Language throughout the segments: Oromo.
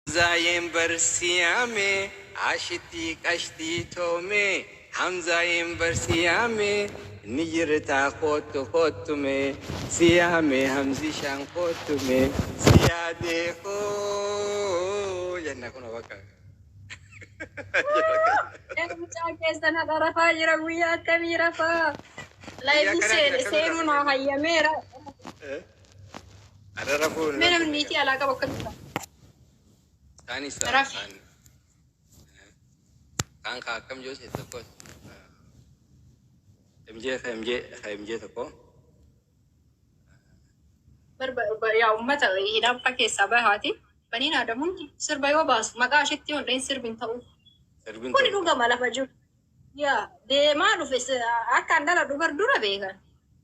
Hamzaayeen bar si yaame Aashitii qashtii too mee Hamzaayeen bar si yaame Ni jirtaa koottu koottu mee Si yaamee Hamzishaan koottu mee Si yaadee hoo jenna kunoo bakka Ee mucaan keessan hadha rafaa jira guyyaa akkamii rafaa? Guyyaa Live akkanaa jira seene akkamii seenuu naa rafaa? hayyameera. Arra rafuu hin Mee namni rafine niitii alaa qabu akkamitti ta'a? Isaanis ta'a Rafi. kaan kaan kaa akkam jiru seet tokko MJ ka MJ ka MJ tokko Barba ba- yaa ummata hidhaanfa keessaa bahaati. Baniin aadamuuti sirba yoo baasu maqaa ishitti yoo hin dhahin sirbi hin ta'u. sirbiin Kuni tokko dhugama lafa jiru. Yaa deemaa dhufe si- akka andala dubar dura beekan.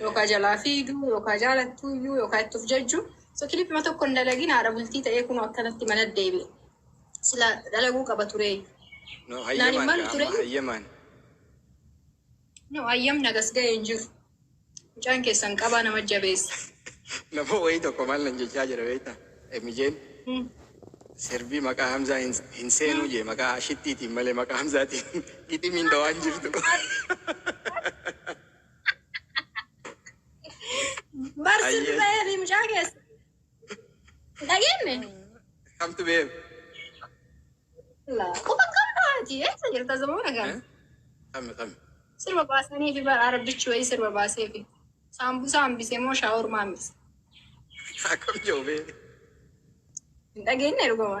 Yookaa jalaa fiigu yookaa jaalattuu iyyuu yookaa itti of jajju so kilipima tokko hin dalagin haadha bultii ta'ee kunoo akkanatti mana deebi'e sila dalaguu qaba turee No naan hin hayyamaan malu gaa turee amma hayyamaan. no ayyamni agas ga'e hin jiru mucaan keessan qabaa nama jabeessa Nama wayii tokko maal nan jechaa jira beektaa? Emijeen Hmm. sirbii maqaa Hamzaa hin, hin seenuu jee maqaa ashittiitiin malee maqaa Hamzaatiin giximiin dhawaan jirtu. Barsiin Ayyee. ba'ee fi mucaa keessa. Hin dhageenye? Kamtu beem. Quba qabda ati eessa jirta zamuuna kana? Kami kami. Sirba baasanii fi bara arabbichi wayii sirba baasee fi saambusaa hambisee moo shaawurmaa hambise. Akkam jiru bee. Hin dhageenye dhuguma.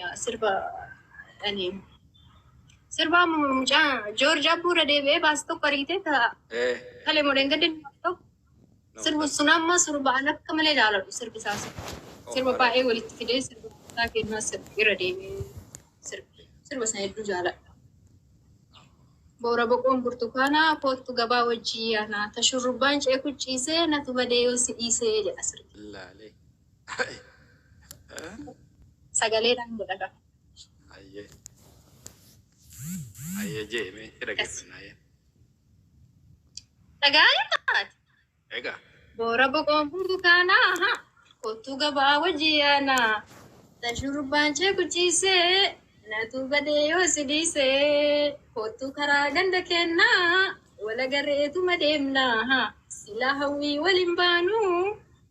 Yaa sirba ani sirba amma mucaa Joorji Abbuu irra deebi'ee baase tokko argitee ta Ee. kale modeen gaddi tokko sirbu sun amma sirba an akka malee jaaladhu sirbi isaa sun. sirba baay'ee walitti fidee sirba isaa kennaa sirbi irra deebi'ee sirbi sirba sana hedduu jaaladha. Boora boqoon burtukaanaa koottu gabaa wajjii yaanaa ta shurrubbaan ceeku ciisee natu badee yoo si dhiisee jedha sirbi. Laalee. Sagalee dhaan godha kaa. Ayyee. Ayyee jee mee si dhaggeeffannaa jee. Dhagaa'ee taate. Egaa. Boora boqoon burtukaana aha kottuu gabaa wajjii yaana tan shurrubbaan cee guchiisee natu badee yoo si dhiisee kottuu karaa ganda keennaa wala garreetuma deemna aha silaa hawwii waliin baanuu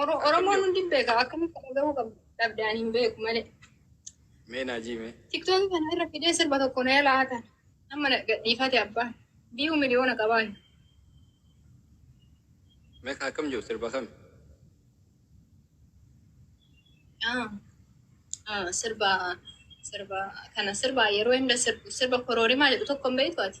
Oro- Oromoon hundi hin beeka. Akkamitti kana gahuu qabdu? Dhabdaan hin beeku malee. Mee naa jiime. Tiktookii kana irra fidee sirba tokko na yala hatan. Amma na gadhiifate abbaan. Biyuu miliyoona qabaan. Mee ka akkam jiru sirba kami? Ah, ah, sirba sirba kana sirba yeroo hunda sirbu sirba koroorimaa jedhu tokko hin beektu ati.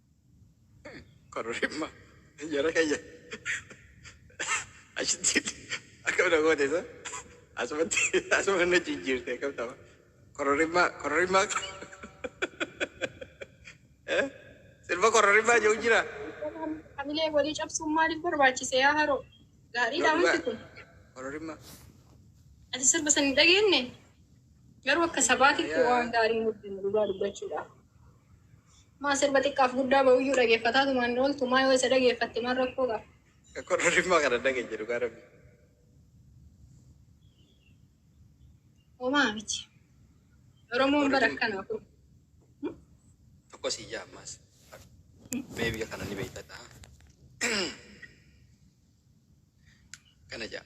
Kororima. Jara kayya. Achitti akkam na goote isa. Asumatti asuma na jijjiirte akkam ta'a. Kororima kororima eh sirba kororima jiru jira. Hamilee walii cabsuun maaliif barbaachise yaa haroo? Gaariidha Yoo dhugaa wanti kun. kororima Ati sirba san hin dhageenye? Garuu akka sabaatitti yaa waan gaarii nutti hin dhugaa dubbachuudhaaf. Maa sirba xiqqaaf guddaa ba'uyyuu dhageeffataatuma hin ooltu maa yoo isa dhageeffatte maal rakkoo qaba. Korra dhimma kana dhageenye dhugaa rabbi. Homaa miti. Oromoon bara akkanaa kun. Tokko sii jaa ammaas. Mee biyya kana ni beekta ta'a. Kana jaa.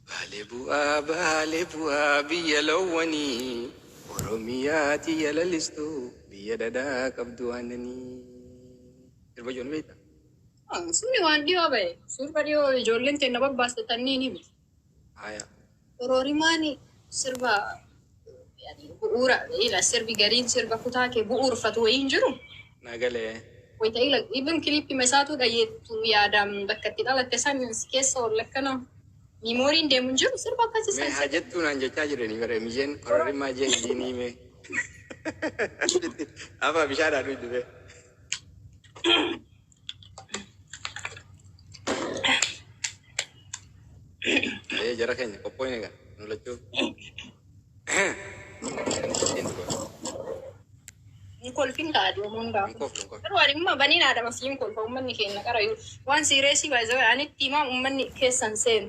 Baale bu'aa baale bu'aa biyya loowwanii Oromiyaa tiyya lalistu biyya dhadhaa qabdu aannanii. Sirba jiru ni beektaa? Haa suni waan dhiyoo bahe sirba dhiyoo ijoolleen teenna babbaaste tanniini miti. Haya. Kororimaani sirba. Yani bu'uura ila sirbi gariin sirba kutaa kee bu'uurfatu wayii hin jiru. Na galee. Wayita ila even clip ma isaatuu dhageettu yaadaan bakka itti dhalatte san si keessa oolla akkana memory'n deemu hin jiru sirba akkasii Mee san haa jettuu naan jechaa jiranii bara Emijeen kororimmaa jee idiinii mee. Afaa bishaadhaa dhuydubee. Ayee jara keenya qophooyne kan nu lachuu. Hin kolfin kaa aduu Hin hundaa. koflu hin koflu. Garuu ani immoo baniin aadama siin kolfa uummanni keenya qarayu. Waan siireesii baay'ee ani itti himaa uummanni keessan seenu.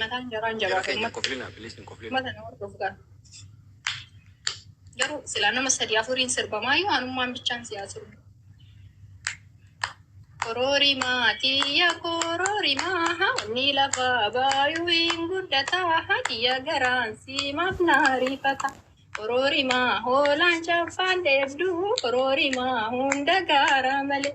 Mataan jaraa hin jabaatu ummata ummata na hordofu kana garuu silaa nama sadii afuriin sirba maayyuu anummaan bichaan siyaa sirbu Kororimaa tiyya kororimaa hawni lafaa baayuu hin guddataa hadiya garaan siimaaf naa riifata Kororimaa hoolaan chaffaan dheebduu kororimaa hunda gaaraa malee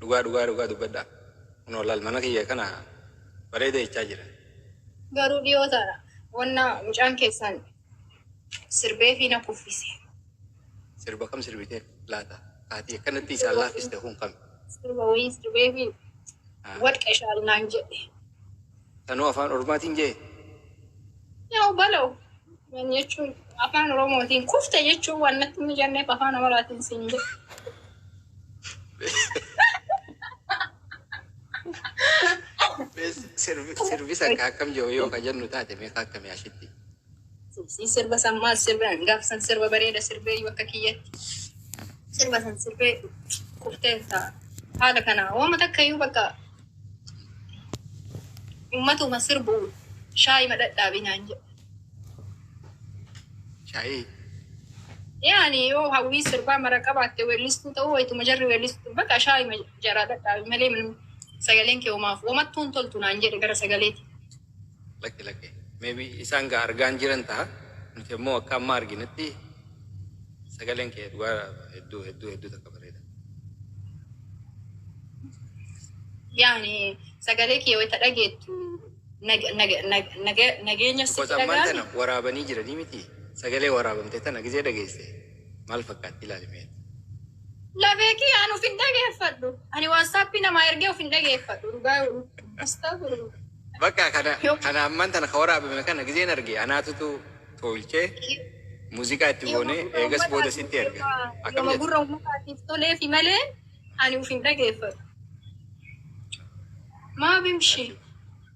Dhugaa dhugaa dhugaa dubbadha kunoo laal mana kiyya kana bareeda jechaa jira. Garuu dhiyoo tana wanna mucaan keessan sirbeefii na kuffise. Sirba kam sirbiteef laata? Kaatii akkanatti isaan laaffiste kun kami? Sirba wayii sirbeefii Ah. wadqa ishaal naan jedhe. Anoo afaan ormaatiin je'e. Yaw balow wan jechuun afaan oromootiin kufte jechuun wan natti hin mijanneef afaan amaraatiin siin jedhe. Mee sirbi sirbi san ka akkam je'u yoo ka jennu taate mee ka akkami ashitti. Sii sirba san maal sirbe an gaaf san sirba bareeda sirbee iyyuu akka kiyyatti sirba san sirbee kuftee ta'a. Haala kana waama takka iyyuu bakka uummatuma sirbu shaayi madhadhaabi naan jedhe. Shaayii. Yaani yoo hawwii sirbaa mara qabaatte weellistuu ta'uu wayituma jarri weellistu bakka shaayi jaraa dhadhaabi malee minuu sagaleen kee homaaf homattuu hin toltu naan jedhe gara sagaleeti. Lakki lakki maybe isaan gaa argaan jiran taha nuti ammoo akka amma arginetti sagaleen kee dhugaa hedduu hedduu hedduu takka bareeda. Yaani sagalee kee wayita dhageettu nag- nag- nag- nag- nageenya sitti Because ammaan dhaga'ame. tana waraabanii jiranii miti sagalee waraabamte tana gizee dhageesse maal fakkaatti ilaali mee. Lafee kiyya an of hin dhageeffadhu. Ani waatsaappii namaa ergee of hin dhageeffadhu. Dhugaa yoo Astagfirullah. Bakka kana kana amman tana ka waraabame kana gizeen arge anaatutu tolchee muuziqaa itti goonee eegas booda sitti erga. Akkam Yooma jette? gurra uummataatiif toleefi malee ani of hin dhageeffadhu. Maa bimshi.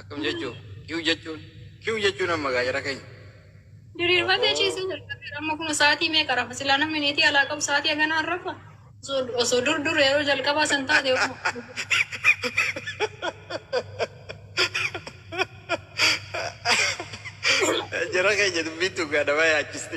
Akkam jechuun kiw jechuun kiw jechuun amma gaa jara keenya. Diriirfatee ciisee jalqabeera. Amma kun sa'aatii meeqa rafa? Silaa namni neetii alaa qabu sa'aatii haganaan rafa? Osoo- Osoo dur dur yeroo jalqabaa san taate osoo- Jara keenya dubbiin tun gaa nama yaachiste.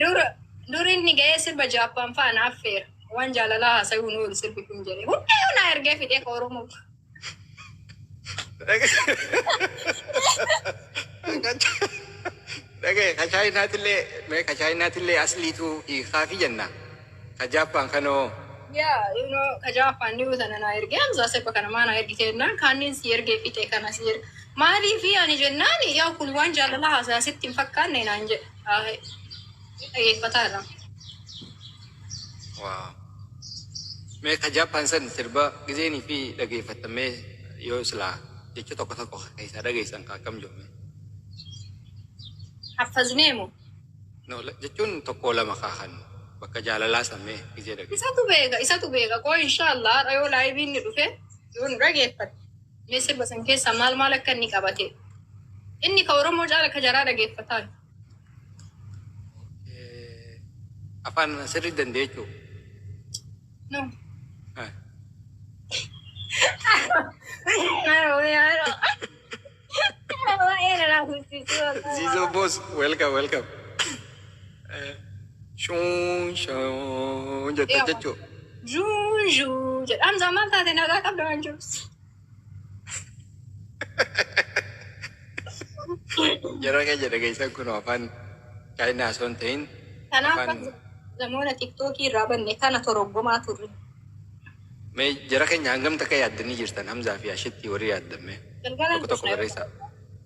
Dur dur inni ga'ee sirba Jaappaan fa'a na affeera. Waan jaalalaa haasayuu hin oolu sirbi kun jedhe. Hundayyuu na ergee fidee ka Oromoo. Dhagaye ka chaayinaatillee mee ka chaayinaatillee asliitu hiikaafi jenna. Ka Jaappaan kanoo Yaa, you know, ka Jaappaan dhiyoo sana na ergee Hamzaa sirba kana maa na ergite jennaan kaanniin si ergee fixee kana si erge. Maaliifi ani jennaan yaa kun waan jaalalaa haasaya sitti hin fakkaanne naan jedhe. dhageeffataa irraa. Waaw. Mee ka Jaappaan san sirba gizeenii fi dhageeffattan mee yoo silaa jecha tokko tokko keessaa dhageessan ka akkam jiru mee. Haffaznee moo? No, la- jechuun tokko lama kaahan bakka jaalalaa san mee gizee dhageessan. Isatu beeka, isatu beeka. Koo inshaallah har'a yoo laayiviin ni dhufe yoo nu dhageeffate. Mee sirba san keessaa maal maal akka inni qabate inni ka oromoo caala ka jaraa dhageeffataan. Afaan sirri dandeechuu. No. Zizo boss, welcome, welcome. Shuun shuun jette jechuu. Zhuu zhuu jedha. Hamzaa maal taate nagaa qabda waan jiruus. Yeroo kee jedhe geessan kun afaan chaayinaa osoo hin ta'in Kanaaf afaan namoota tiktookii irraa banne kana toroggomaa turre. mee jara keenya hangam takka yaaddanii jirtan Hamzaa fi Ashittii warri yaaddamme Galgala tokko tokko barreessaa.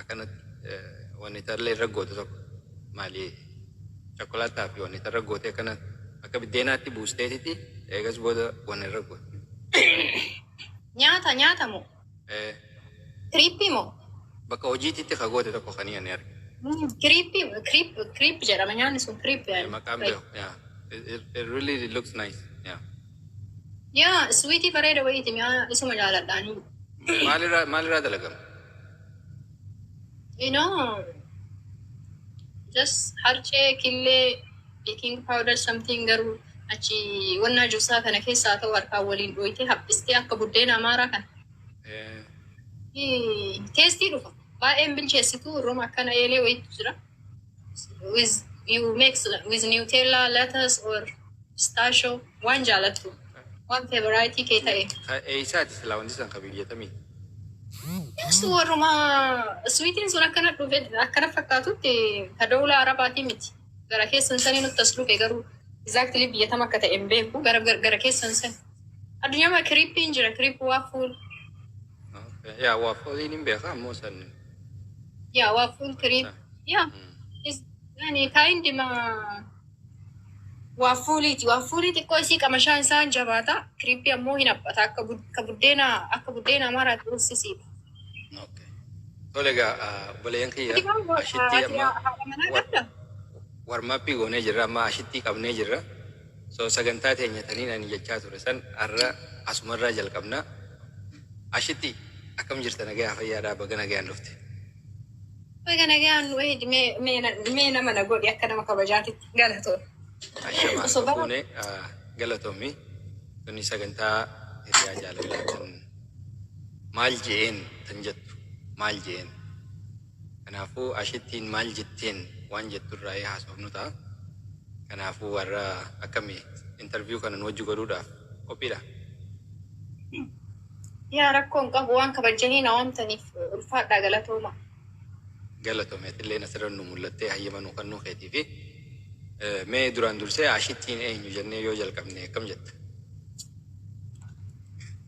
Akkanat wani tarle irra gotu tokko mali chocolate fi wani tarra gote akkana akka biddeenaatti buusteetiti eegas booda wani irra gotu. Nyaata nyaata moo? Ee. Kiriippii moo? Bakka hojiititti ka goote tokko kani ani arge. Kiriippii creep creep jedhama nyaanni sun creep. Maqaan beeku yeah it it really looks nice yeah. Yaa sweetii bareeda wayiiti mi'aa isuma jaaladha ani. Maalirraa maalirraa dalagama? You know, just harcee, killee, baking powder something garuu achi wannaa juusaa kana keessaa haa ta'u harkaan waliin dhooytee haphistee akka buddeena amaaraa kana. Eh, Ii, Teestii dhufa. Baay'een bilcheessitu roma akkana eelee wayiitu jira. with you mix with Nutella, lettuce or pistachio waan jaalattu waan favorite kee ta'e. Eessaati silaa wanti san kabiyyatamii? Ibsu warruma swiitiin sun akkana dhufe akkana fakkaatutti ka dawla arabaatii miti. Gara keessan sanii nutti as dhufe garuu exactly biyyatam akka ta'e hin beeku gara gara keessan san. Addunyaa kiriippiin jira kiriippii waa fuul. Yaa waa fooliin hin beekaa ammoo san. Yeah, waa full cream. Yeah. Is yani kind ma waa fuuliiti. Waa fuulii xiqqoo isii qamashaan isaan jabaata. Kiriippii ammoo hin haphata. Akka bud- akka buddeena akka buddeena amaaraa tursisiidha. Okay. Tole egaa obboleeyyan kiyya ashittii amma haadha manaa qabda? warmaappii goonee jirra amma ashittii qabnee jirra. So sagantaa teenya taniin ani jechaa ture san arra asumarraa jalqabna. Ashitti akkam jirta nagayaa fayyaadhaa baga nagayaan dhufte. Baga nagayaan nu eeydi mee mee na- mee nama na godhi akka nama kabajaatitti galatoo. Ashama Osoo bara- fuune galatoomi tuni sagantaa hiriyaa jaalalaa tan maal je'een tan jettu maal je'een Kanaafuu ashittiin maal jetteen waan jettu irraayii haasofnu ta'a. Kanaafuu warra akkami interview kana nu wajji godhuudhaaf qophiidha? Yaa rakkoo hin qabu waan kabajjanii na waamtaniif ulfaadhaa galatoomaa. Galatoomi atilleen asirra nu mul'attee hayyama nuu kennuu keetiifi. Mee duraan dursee ashittiin eenyu jennee yoo jalqabne akkam jetta?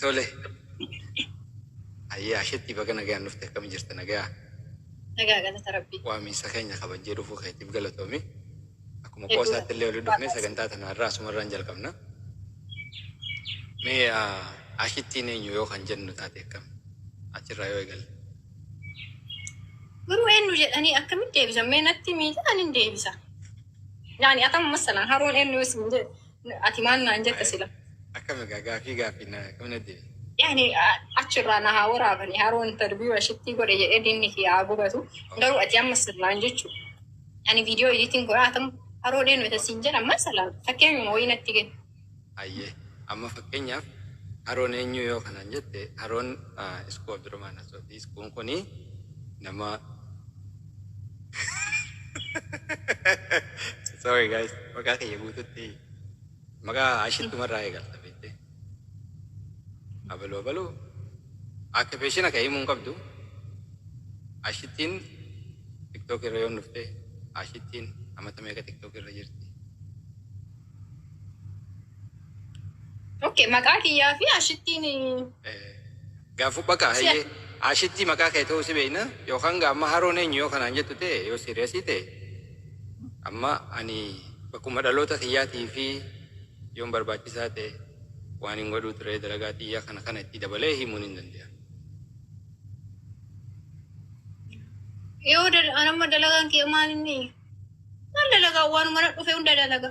Tole. Ayyaa ashetti baga nagaan dhufte akkam jirta nagaa Nagaa galata rabbii. waamiinsa keenya kabajjee dhufuu keetiif galatoomi. Akkuma Hedduu qoosaatti illee waliin dhufnee sagantaa tana har'aa asumarraan jalqabna. Mee ah, ashittiin eenyu yoo kan jennu taate akkam? Achirraa yoo eegalle. Garuu eenyu jedhanii akkamitti deebisan? Mee natti miidhaan hin deebisa. Yaani atamu masalan haroon eenyu isin jedhe. Ati maal naan jetta sila? Akkam egaa gaafii gaafii na qabna deebi. Yani achirraa na haa waraabani haroo interview ashittii godhe jedhee dinni kiyya haa gubatu garuu ati amma sirnaan jechu ani viidiyoo editing godhaa atam haroo deenu isa siin jedha amma salaan fakkeenyuma wayii natti kenna. Ayyee amma fakkeenyaaf haroon eenyu yoo kanaan jette haroon iskuu abdurumaan asootii iskuun kuni nama Sorry guys, maqaa kiyya guututti maqaa ashittumarraa eegalta beekte. Abaluu abaluu akka beeshina ka'ee himuun qabdu ashittiin tiktook irra yoon dhufte ashittiin amata meeqa tiktook irra jirti. Okay, maqaa kiyyaa fi ashittiin Eh, Yaa fupha kaa hayyee Ashittii maqaa kee ta'uu si beekna yookaan gaa amma haroon eenyu yoo kanaan jettu ta'e yoo siiriyasii ta'e amma ani bakkuma dhaloota kiyyaatii fi yoon barbaachisaa ta'e waanin godhuu ture dalagaa tiyya kana kana itti dabalee himuun hin danda'a. Yoo dal- anamma dalagaan kiyya maal inni? Maal dalagaa waanuma na dhufe hunda dalaga.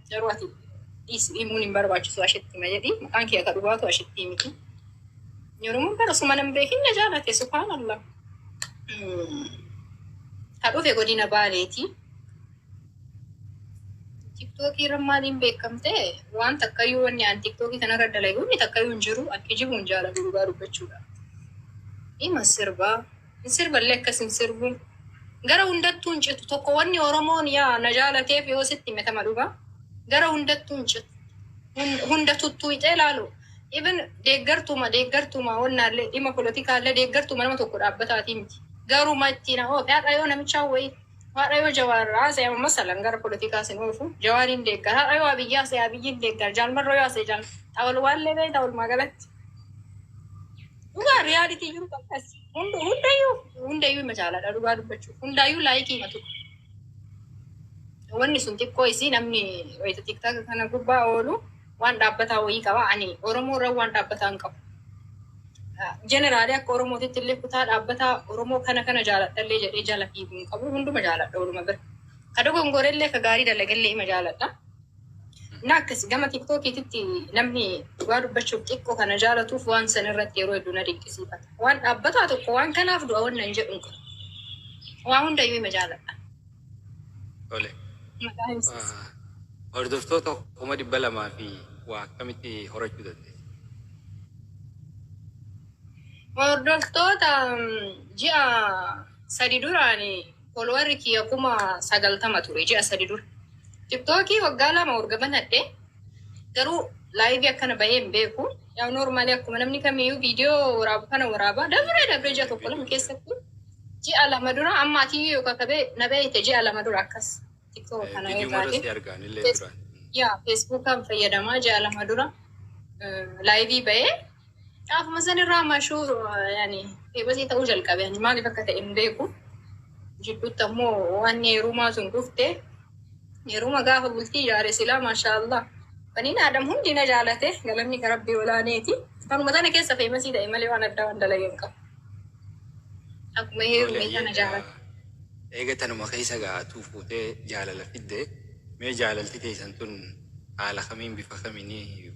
Garuu ati dhiisi himuun hin barbaachisu ashetti hima jedhi maqaan kee akka dhugaatu ashetti miti. Yorumun bara suma nan beekin na jaalate subhaanallah. Mm. Ka dhufe godina baaleeti. Tiktookii irra maaliin beekamte waan takkayyuu wanni aan tiktookii kanarra dalaguun takkayyuu hin jiru akki jibu hin jaalatu dhugaa dubbachuudha. Ima sirbaa. Hin sirballee akkas hin sirbu. Gara hundattuu hin citu. Tokko wanni Oromoon yaa na jaalateef yoo sitti hime tama dhugaa. Gara hundattuu hin citu. Hun- Hunda tuttuuxee laalu. Even deeggartuuma deeggartuuma wannaallee dhimma politikaallee deeggartuuma nama tokko dhaabbataatii miti. Garuma ittiin hoo haadha yoo namichaa wayii haadha yoo jawaar haasa'e amma masalan gara politikaa sin oofu jawaariin deeggar haadha yoo abiyyi haasa'e abiyyiin deeggar jaalmarroo yoo haasa'e jaal xawalwaallee beektaa walumaa galatti. Dhugaa riyaalitii jiru akkas. Hund- Hundayyuu hundayyuu ima caaladha dhugaa dubbachuuf hundaayyuu laayikii ima tuqa. Wanni sun xiqqoo isii namni wayita tiktaaka kana gubbaa oolu waan dhaabbataa wayii qaba. Ani Oromoo irra waan dhaabbataa hin qabu. Jeneraalee akka Oromootitti illee kutaa dhaabbataa Oromoo kana kana jaaladha illee jedhee jala fiigu hin qabu. Hunduma jaaladha waluma bira. Ka dogongore illee ka gaarii dalage illee ima jaaladha. Naakkis gama tiktookiititti namni dhugaa dubbachuuf xiqqo kana jaalatuuf waan san irratti yeroo hedduu na dinqisiifata. Waan dhaabbataa tokko waan kanaaf du'a wanna hin jedhu hin qabu. Waa hundayyuu ima jaaladha. Tole. Maqaa himsiis. Hordoftoota kuma dhibba lamaa fi waa akkamitti horachuu dandeessa? Hordoftoota ji'a sadi duraani Follower kiyya kuma sagaltama ture ji'a sadi dura. TikTok waggaa lama erga banadhe garuu live akkana bahee hin beeku. Yaa normally akkuma namni kamiyyuu viidiyoo waraabu kana waraaba. Dabree dabree ji'a tokko lama keessatti ji'a lama dura amma ati yoo kakabee na beekte ji'a lama dura akkas TikTok kana yoo Viidiyoo irra taate. si argaan illee Yes. duraan. Yaa Facebookaan fayyadamaa ji'a lama dura laayivii bahee Dhaafuma san irraa mashuu yani eebasii ta'uu jalqabe ani maaliif akka ta'e hin beeku. Jidduutti ammoo waan heerumaa sun dhufte heeruma gaafa bultii ijaare silaa maashaa Allah baniin aadam hundi na jaalate galanni ka rabbii olaaneeti. Kanuma sana keessa feemasii ta'e malee waan addaa waan dalageen qabu. Akkuma heerume isa na jaalate. Eega tanuma keessa gaatu fuutee jaalala fidde mee jaalalti teessan tun haala kamiin bifa kamiin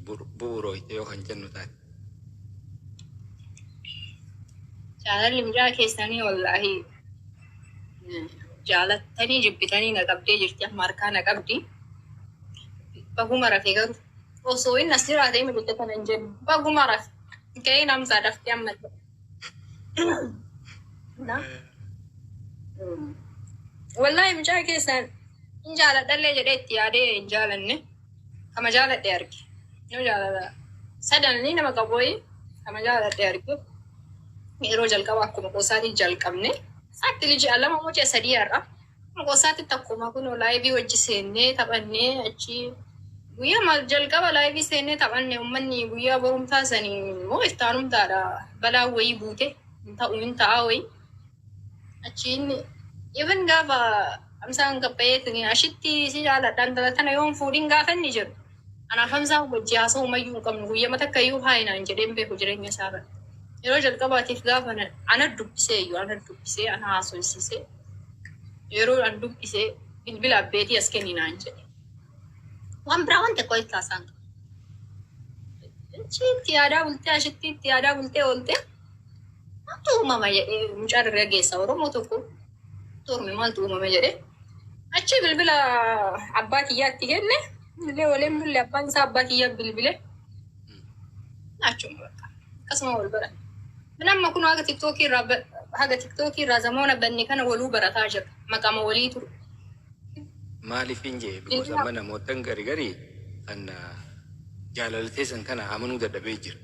bu'uurooyte yoo kan jennu taate. Jaalalli mucaa keessanii wallaahi jaalattanii jibbitanii na qabdee jirti amma harkaa na qabdi. Baguma rafe garuu osoo inni as jiraate inni bitte kana hin jennu. Baguma rafe ga'ee namsaa daftee amma. Wallaahi mucaa keessan hin jaaladhallee jedhee itti yaadee hin jaalanne. Kama jaaladhee arge. Yoo jaalala sadananii nama qabooyi kama jaaladhee arge. Yeroo jalqaba akkuma qoosaatiin jalqabne. Saatti liji alama mucee sadii har'a. Qosaatti takkuma kunoo laayivii wajji seennee taphannee achi guyyaa maal jalqaba laayivii seennee taphanne ummanni guyyaa borumtaa sanii moo iftaanumtaadha balaa wayii buute hin ta'u hin ta'aa wayii achiin even gaafa hamsaan gabbayeetiin ashitti si jaaladhaan tana tana yoon fuudhin gaafa inni jedhu anaaf hamsaan wajji haasa'u mayyuu hin qabnu guyyama takka iyyuu haayinaan jedheen beeku jireenya isaa irratti yeroo jalqabaatiif gaafa ana dubbisee iyyuu ana dubbisee ana haasofsiisee Yeroon an dubbise bilbila abbeetii as kenni naan jedhe. Waan biraa waan xiqqoo itti haasaan qabu. Ishii itti yaadaa bultee ashitti itti yaadaa bultee oolte maaltu uumama jedhee mucaa dargaggeessa Oromoo tokko torme maaltu uumama jedhee achi bilbila abbaa kiyyaatti kenne illee waliin bulle abbaan isaa abbaa kiyyaa bilbile. Naachuma bakka. Akkasuma wal baranne. Min amma kun haga tiktookii irraa ba- haga tiktookii irraa zamoona banne kana waluu barataa jirra. Maqama walii ture. Maaliif hin jee because amma namootan gari gari kan ah, jaalala teessan kana amanuu dadhabee jira.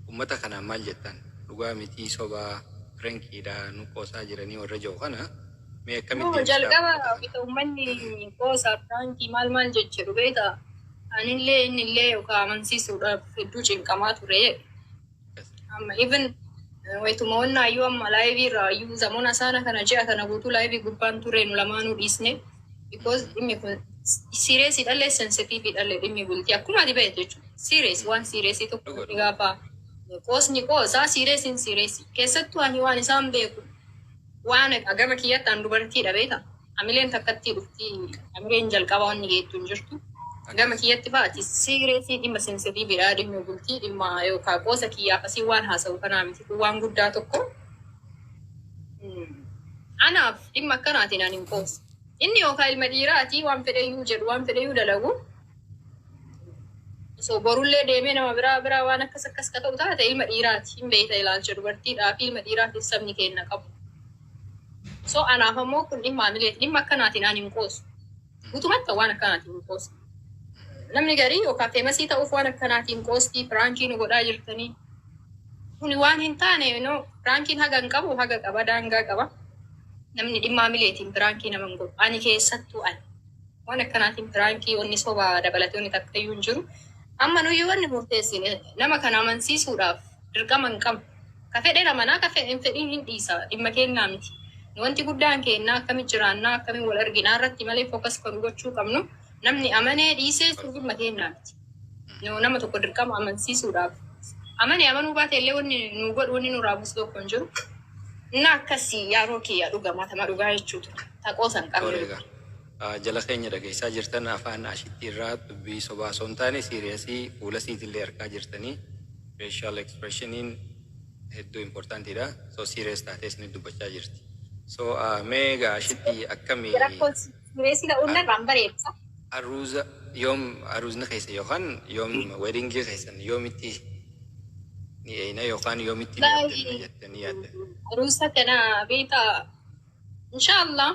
Uummata kanaan maal jettan dhugaa mitii sobaa pirankiidha nu qoosaa jiranii warra jiru kana mee akkamitti Yoo deebisaa jalqaba uummata kana? bita uummanni qoosaa piraankii maal maal jechuu beektaa? Anillee innillee yookaan amansiisuudhaaf hedduu cinqamaa ture. Amma even wayituma wannaa iyyuu amma laayivii irraa iyyuu zamona saana kana ji'a kana guutuu laayivii gubbaan ture nu lamaanuu dhiisne. Because dhimmi kun siireesii dhallee sensitiivii dhallee dhimmi bultii akkuma ati beektu jechuudha. Siirees waan siireesii tokko Dhuga, dhuga. gaafa qoosni qoosaa siireesiin siireesii. Keessattuu ani waan isaan beeku Waan egaa gama kiyyatti an dubartiidha beeta hamileen takkattii dhufti hamireen jalqaba wanni geettu hin jirtu gama kiyyatti faa ati siireetii dhimma sensitiividha dhimma bultii dhimma yookaan qoosa kiyyaaf asii waan haasa'u kanaa miti kun waan guddaa tokko anaaf dhimma akkanaatiin an hin qoosu inni yookaan ilma dhiiraa ati waan fedhe iyyuu jedhu waan fedhe iyyuu dalagu osoo borullee deemee nama biraa biraa waan akkas akkas ka ta'u taate ilma dhiiraati hin beeyta ilaalcha dubartiidhaa fi ilma dhiiraatiin sabni keenna qabu so anaaf ammoo kun dhimma amileeti dhimma akkanaatiin aan hin qoosu gutumatta waan akkanaatiin hin qoosu namni garii yookaan feemasii ta'uuf waan akkanaatiin qoostii piraankii nu godhaa jirtanii kuni waan hin taane no piraankiin haga hin qabu haga qaba daangaa qaba namni dhimma amileetiin piraankii nama hin godhu ani keessattuu ani Waan akkanaatiin piraankii wanni soba dabalatee wanni takkayyuu hin jiru. Amma nuyi wanni murteessine nama kana amansiisuudhaaf dirqama hin qabnu. Ka fedhen amanaa ka hin fedhin hin dhiisa dhimma keennaa miti. Nu wanti guddaan keennaa akkamitti jiraannaa akkamiin wal arginaa irratti malee focus ka nu gochuu qabnu namni amanee dhiisee sun dhimma keennaa miti. Nu nama tokko dirqama amansiisuudhaaf amane amanuu baate illee wanni nu godhu wanni nurraa buusu tokko hin jiru. Na akkasii yaaroo kiyya dhugamaa tama dhugaa jechuu ture. Ta qoosa hin qabne. Tole egaa ah, jala keenya dhageessaa jirtan afaan ashitti irraa dubbii sobaa osoo hin taane siiriyasii fuula siitillee arkaa jirtanii facial expressioniin hedduu importantiidha so siiriyas taatee isinit dubbachaa jirti so ah, mee egaa ashitti akkami Rakkoo sireesii ta'uu ah, irraa hin bareedsa. Aruuza yoom aruuzni keessan yookaan yoom weddingii keessan yoomitti ni eeyna yookaan yoomitti ni Wallaahi abdanna jettanii yaaddan? aruusa kana beektaa inshaallah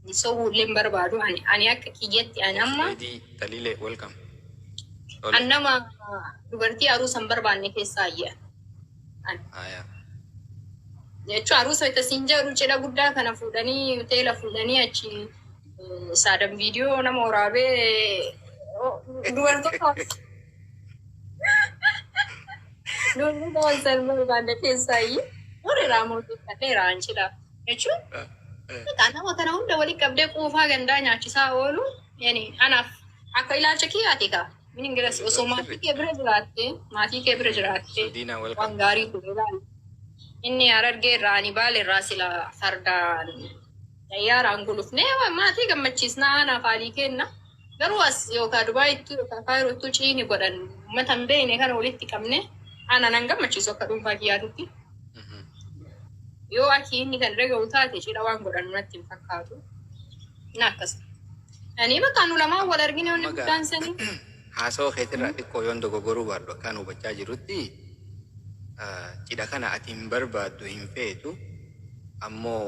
ni sobuu illee hin barbaadu ani ani akka kiyyatti ani amma Osmeedii Taliilee welcome. an Tole. nama dubartii aruusa hin barbaanne keessaa ayya ani Haya. jechuun aruusa itti siin jedhu cidha guddaa kana fuudhanii hoteela fuudhanii achi Saadan viidiyoo nama waraabee dubartoota dubartoota wal salmaa barbaadda keessaayi warri raamootii kanneen raanchidha jechuun Kan nama kana hunda walitti qabdee quufaa gandaa nyaachisaa oolu yani anaaf akka ilaalcha kiyyaati egaa min ingilas osoo maatii kee bira jiraatte maatii kee bira jiraatte Diinaa wal waan gaarii ture ilaali. Inni harargee irraa ani baale irraa sila fardaan Xayyaaraan gulufnee maatii gammachiisna aanaa faalii keenna. Garuu as yookaa Dubaayittuu yookaa Kaayiroottuu ciini godhan ummata hin beeyne kana walitti qabnee ana nan gammachiisu akka dhuunfaa kiyyaatitti. Yoo akii inni kan dhaga'u taate cidha waan godhanu natti hin fakkaatu. Na akkas. Ani bakka nu lamaan wal argine wanni Maga- guddaan sanii. Haasawa keetirraa xiqqoo yoon dogoggoruu baadhu akka an hubachaa jirutti cidha kana ati hin barbaaddu hin feetu ammoo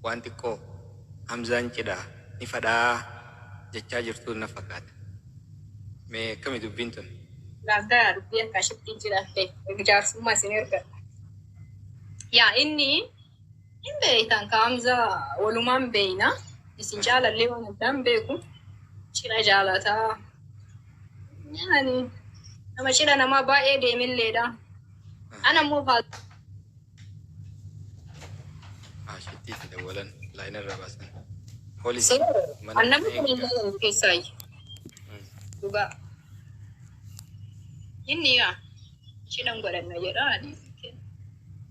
waan xiqqoo Hamzaan cidha ni fadhaa jechaa jirtuu na fakaata. Mee akkami dubbiin tun? Naaf galaa dubbii akka ashittiin cidha feetu. Jaarsummaa isin ergadha. Yaa inni. Hin beeytan ka Hamza walumaan beeyna isin caalallee waan addaan beeku cidha jaalata yani nama cidha namaa baay'ee deemilleedha ana immoo faa Ashitti itti dawwalan laayina irraa baasan. Poolisii mana annamni kun eegaa. illee keessaayi dhugaa inni yaa Ishii nan godhanna jedha ani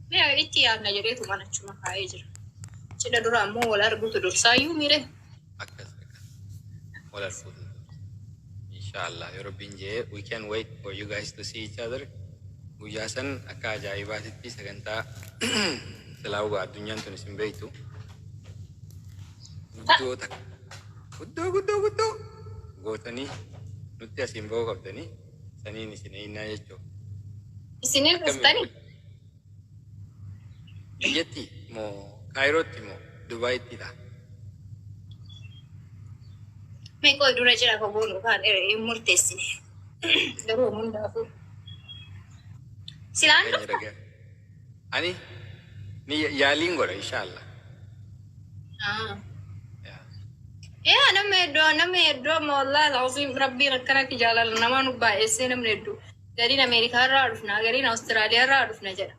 mee itti yaadna jedheetu mana achuma kaa'ee jira. Cidha dura ammoo wal arguutu dursaayyuu mire. Akkas akkas. Wal arguutu. Inshallah yoo rabbiin jee we can wait for you guys to see each other. Guyyaa san akka ajaa'ibaatitti sagantaa silaa hugaa addunyaan tun isin beektu. Guddoo takka. Guddoo guddoo guddoo gootanii nutti asiin ba'uu qabdanii. saniin isin eeynaa jechuun. Isinii quuftani? Biyyatti moo Kaayirootti moo Dubaayitti dha? Mee qoy dura jira ka goonu kaan hin murteessine. Garuu hundaafuu. Silaan Nageenya dhufta? dhagaa. Ani ni ya- yaaliin godha insha Allah. Ah. Yaa. Yaa nama hedduu nama hedduu amma wallaahi alazim rabbiin akkana akka jaalala namaa nu baay'essee namni hedduu gariin Ameerikaa irraa dhufna gariin Awustiraaliyaa irraa dhufna jedha.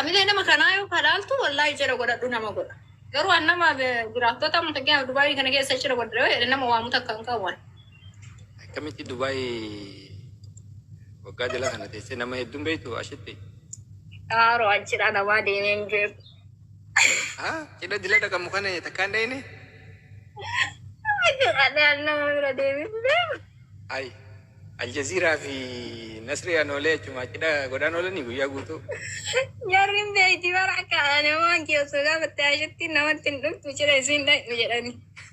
Amilee nama kanaa yoo kadhaaltu wallaahi jira godhadhu nama godha. Garuu an nama eh, jiraattota amma fakkeenyaaf Dubaayii kana keessa jira godhadhu yoo jedhe nama waamu takka hin qabu. ani. Akkamitti Dubaay waggaa jala kana teessee nama hedduun beektu ashitti? Kaaroo achidha namaa deemee hin beeku. Haa cidha dila dhaqamu kana takkaan dhayne? Achidha nama bira deemee hin beeku. Ay Aljaziiraa fi Nasrii Anoolee achuma cidha godhaan oolanii guyyaa guutuu. Jarri hin beekti bara akka namaan keessoo gaafatte ashitti namatti hin dhuftu cidha isiin dhaqxu jedhani.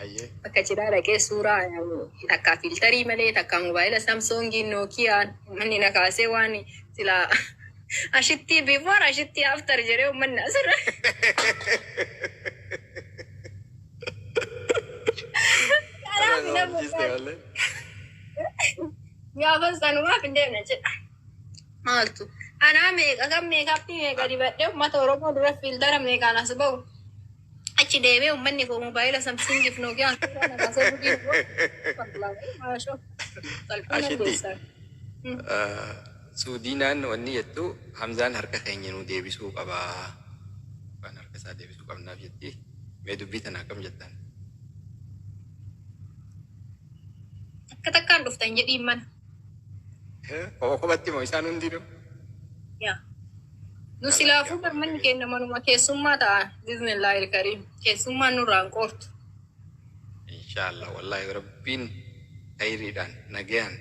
Hayyee. Bakka cidhaa dhaqee suuraa takkaa fiiltarii malee takkaa mobaayila samsoongiin nookiyaan manni na kaasee waan silaa ashittii before ashittii after jedhee ummanni asirra kanaaf hin hafu Jiste kan malee. gaafa sanumaaf hin deemne jedha. Maaltu anaa meeqa kan meekaappii meeqa dibadhee ummata Oromoo dura fiiltara meeqaan as ba'u Achi deemee ummanni koo mobaayila samsingiif nookiyaan suuraa na baasee gudii na godhe. Wallah, maashoo. Qalbii nan Ashitti. deessaa. Suudiinaan wanni jettu Hamzaan harka keenya nuu deebisuu qaba. Waan harka isaa deebisuu qabnaaf jetti. Mee dubbii tana akkam jettan? Takka takkaan dhuftan jedhiin mana. Koo kophatti moo isaan hundinuu? Ya. Nu silaafuu bar manni keenya manuma keessummaa ta'a. Bismillaahi ilkariim. Keessummaan nurraa hin qoortu. Inshaallah wallaahi rabbiin hayriidhaan nagayaan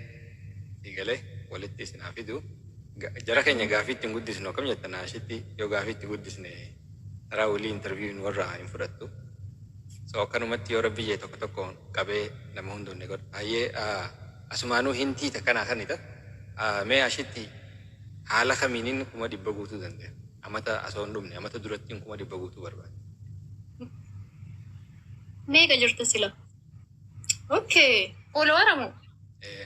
si galee walitti isin haa fidu. Ga- Jara keenya gaafii ittiin guddisnu akkam jettan ashitti yoo gaafii itti guddisne taraa walii interviewin warra hin fudhattu. So akkanumatti yoo rabbi jee tokko tokko qabee nama hunduun ni godha. Hayyee ah, Asumaanuu hin tiita kanaa kanita mee ashitti haala kamiinin kuma dhibba guutuu dandaya amata asoo hin dhumne amata durattiin kuma dhibba guutuu barbaade. Meeqa jirta sila? Ok. Followara moo? Ee.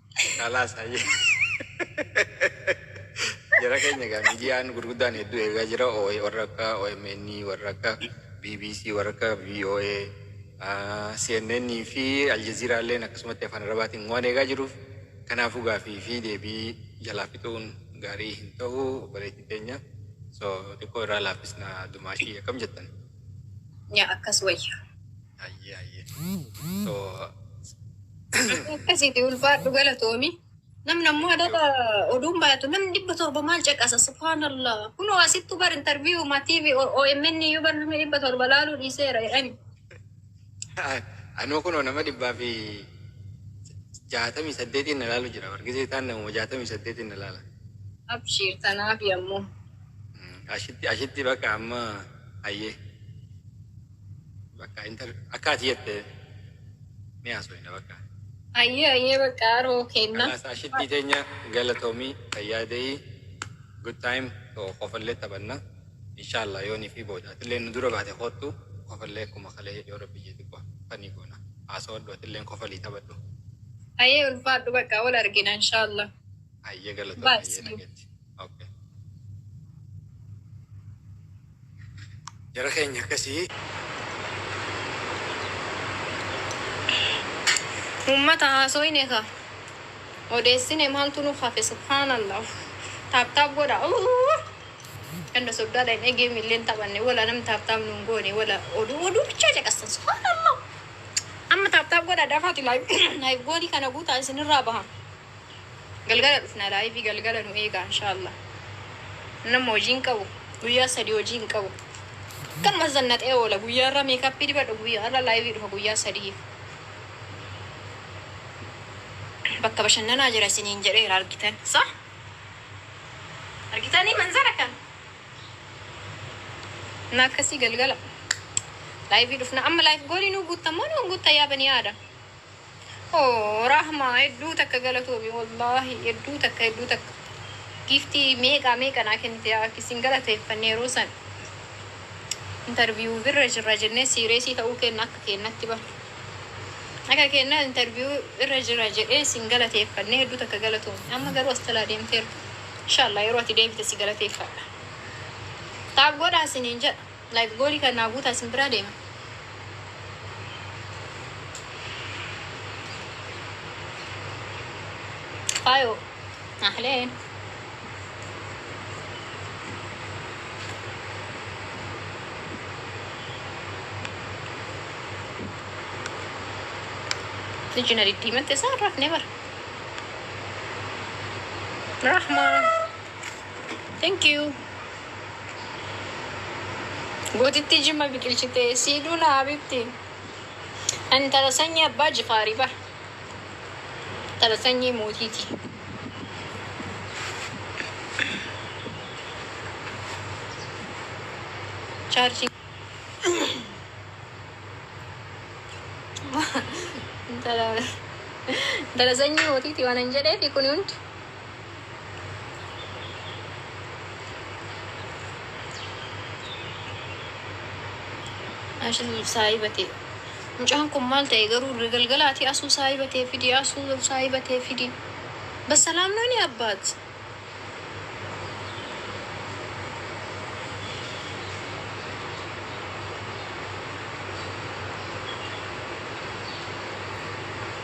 Kalaas hayyee. Jara keenya egaa miidiyaan gurguddaan hedduu eegaa jira. OA warra akka OMN, warra akka BBC, warra akka VOA, ah, CNN fi Aljazeera illeen akkasumatti afaan Arabaatiin waan eegaa jiruuf kanaafuu gaafii fi deebii jalaa fixuun gaarii hin ta'u obboleettii teenya. So xiqqoo irraa laaffisna dumaashii akkam jettan? Yaa akkas wayya. Hayyee hayyee. Too Akkasiiti ulfaadhu galatoomi. Namni ammoo adaba oduun baay'atu namni dhibba torba maal caqasa subhaanallah. Kunoo asittu bar interviyuu ma TV OMN iyyuu bar namni dhibba torba laaluu dhiiseera jedhani. anoo kunoo nama dhibbaa fi jaatamii saddeetiin na laalu jira. Wargisee taan namuma jaatamii saddeetiin na laala. Abshiir tanaafi ammoo. Mm, Ashitti ashitti bakka amma hayyee. Bakka inter akka ati jette ni haasofna bakka. Ayyee ayyee bakka haroo kenna. Kalaasaa shittii teenya galatoomii fayyaa ta'ii good time too kofallee taphanna inshaallah yoonii fi booda atillee nu dura baate koottu kofallee akkuma kalee yoo rabbi jee xiqqoo fanii goona haasawadhu atilleen kofalii taphadhu. Ayyee ulfaadhu bakka wal argina inshaallah. Ayyee galatoomii Bye, ayyee see you. nageetti. Ok. Jara keenya akkasii. Ummata haasoyne ka odeessine maaltu nu hafe subhaanallah taaptaap godha Uuuh! ganda soddaadha hin egee milleen taphanne wala nam taaptaap nuun goone wala oduu oduu bichaa caqastan subhaanallah amma taaptaap godha dafaati laayif goolii kana guutaa isinirraa baha Galgala dhufna live galgala nu eegaa inshallah. Ani amma hojii hin qabu. Guyyaa sadii hojii hin qabu. Akkanuma zannaxee oola. Guyyaa irra meekappii dibadha. Guyyaa irra live dhufa guyyaa sadiif. Bakka bashannanaa jira isiniin jedheera argitan. Sa? Argitanii manzara kan? Na akkasii galgala. Live dhufna amma live goolii nuu guuttan moo nuu guutta yaa banii aadam? Ohh Rahma hedduu takka galatoomi wallahi hedduu takka hedduu takka giiftii meeqaa meeqa naa kennite yaa akki sin galateeffanne yeroo san interview irra jirra jennee siireesii ta'uu keenna akka keennatti bar akka keenna interview irra jira jedhee sin galateeffanne hedduu takka galatoomi amma garuu as talaa deemteerta inshallah yeroo ati deebite si galateeffadha taab godhaa siniin jedha Like goodhi kan naa guutaa isin biraa deema. Faayoo. Ahleen. Iji na diddiimatte isaa hin rafne bara. Rahma. Thank you. Gootittii Jimma biqilchite sii duuna habibti. Ani tara sanyii abbaa jifaari bar. Tara sanyii mootiiti. Chaarjii. Tara tara sanyii mootiiti waan hin jedheefi kuni hundi. Ashin saahiba tee. Mucaan kun maal ta'e garuu galgala ati asuu saahiba tee fidi asuu saahiba tee fidi. Bassalaam nooni abbaat.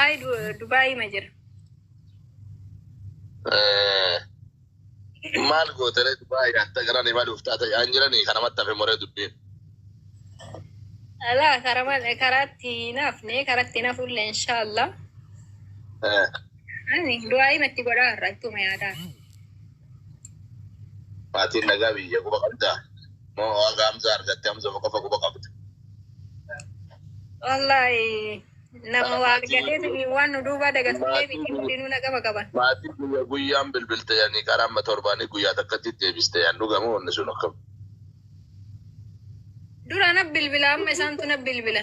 Ayi Dubaayii ma jira. Maal gootere Dubaayii hatta gara ni maluuf taata yaan jiranii kana mattafe moree dubbiin. Alaa karaman karaatti naafne karatti nafulle inshallah. Ani du'aayii matti godhaa irraa ittuma yaadaa. Maatiin nagaa biyya quba qabdaa? Moo waaqa Hamzaa argatte Hamzuma qofa quba qabda? Wallaahi nama waa argateetiin waan nu duubaa dagatullee miti hundinuu na qaba qaban. Maatii guyya guyyaan bilbilte yani karaa amma torbaanii guyyaa takkatti deebiste yani dhugama wanni sun akkam. Dura na bilbila amma isaantu na bilbila.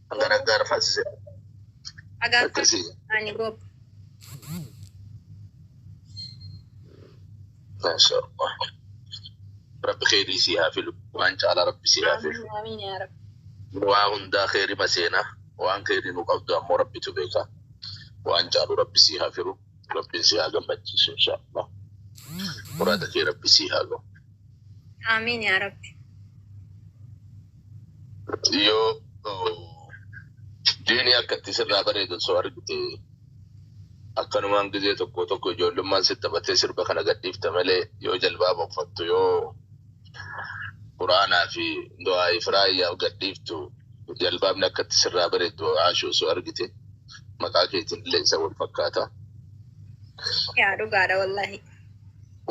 Gara gara faasise. Agar Akkasi. ani gob. Masha Allah. Rabbi kheyrii sii haa filu. Waan caalaa rabbi sii haa filu. Amin amin ya rab. Waa hundaa kheyrii maseena. Waan kheyrii nu qabdu ammoo rabbitu beeka. Waan caalu rabbi sii haa filu. Rabbiin si haa gammachiisu inshaallah. Muraada kee rabbi si haa gahu. Aamiin yaa rabbi. Yoo oh, diinii akka itti sirraa bareedu osoo argite akkanumaan gizee tokko tokko ijoollummaan si taphatee sirba kana gadhiifta malee yoo jalbaaba uffattu yoo quraanaa fi du'aa ifraayyaaf gadhiiftu jalbaabni akka itti sirraa bareedu haashu osoo argite. maqaa keetiin illee isa wal fakkaata. Yaa dhugaadha wallahi.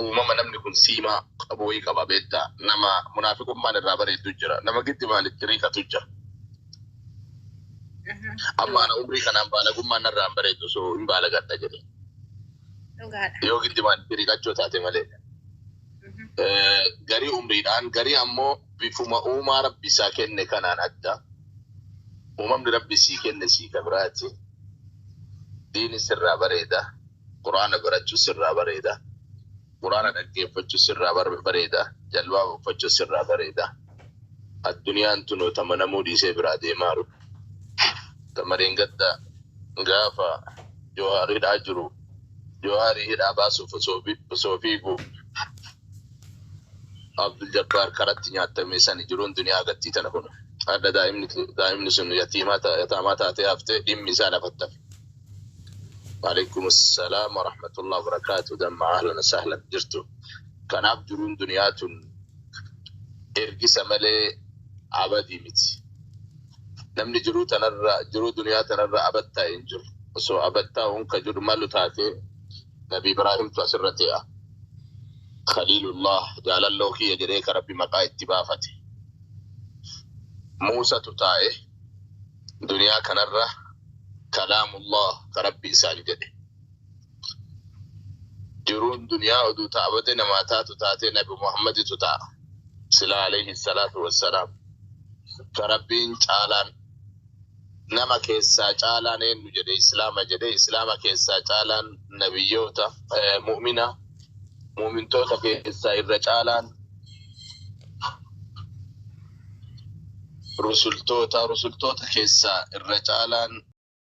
Uumama namni kun siimaa qabu wayii qaba beektaa nama munaafiqummaan irraa bareeddu jira nama giddi maalitti riiqatu jira. Amma ana umrii kanaan baalagummaan narraa hin bareeddu so hin baalagadha jedhe. Dhugaadha. Yoo giddi maalitti riiqachuu taate malee. Eh, Garii umriidhaan garii ammoo bifuma uumaa rabbi isaa kenne kanaan adda. Uumamni Rabbi sii kenne sii ka biraati. Diini sirraa bareeda. Qur'aana barachu sirraa bareeda. Qur'aana dhaggeeffachu sirraa bareeda. Jalbaaba uffachu sirraa bareeda. Adduniyaan tunoo ta manamuu dhiisee biraa deemaaru. Tama dheengadda gaafa Joohaar hidhaa jiru Joohaarii hidhaa baasuuf osoo fiigu Abdul jabbaar karatti nyaattame sani jiruun duniyaa gattii tana kuno hadha daa'imni sun yataamaa taatee hafte dhimmi isaa lafatti hafe Waaleykumussalam warahmatullahi wabarakatuh damma ahlan wasahlan jirtu kanaaf jiruun duniyaa tun ergisa malee abadii miti namni jiruu tanarra jiruu duniyaa tanarra abattaa hin jiru osoo abattaa unka jiru malu taatee Nabi Ibraahimtu asirratti a. Khaliilullah jaalalloo kiyya jedhee ka Rabbi maqaa itti baafate. Muusatu taa'e duniyaa kanarra kalaamullah ka Rabbi isaan jedhe. Jiruun duniyaa oduu ta'a bade namaa taatu taatee Nabi Muhammaditu ta'a. Silaa alayhi salaatu wassalaam ka Rabbiin caalaan Nama keessaa caalaan eennu jedhe islaama jedhe islaama keessaa caalaan nabiyyoota mu'mina mu'mintoota keessaa irra caalaan rusultoota rusultoota keessaa irra caalaan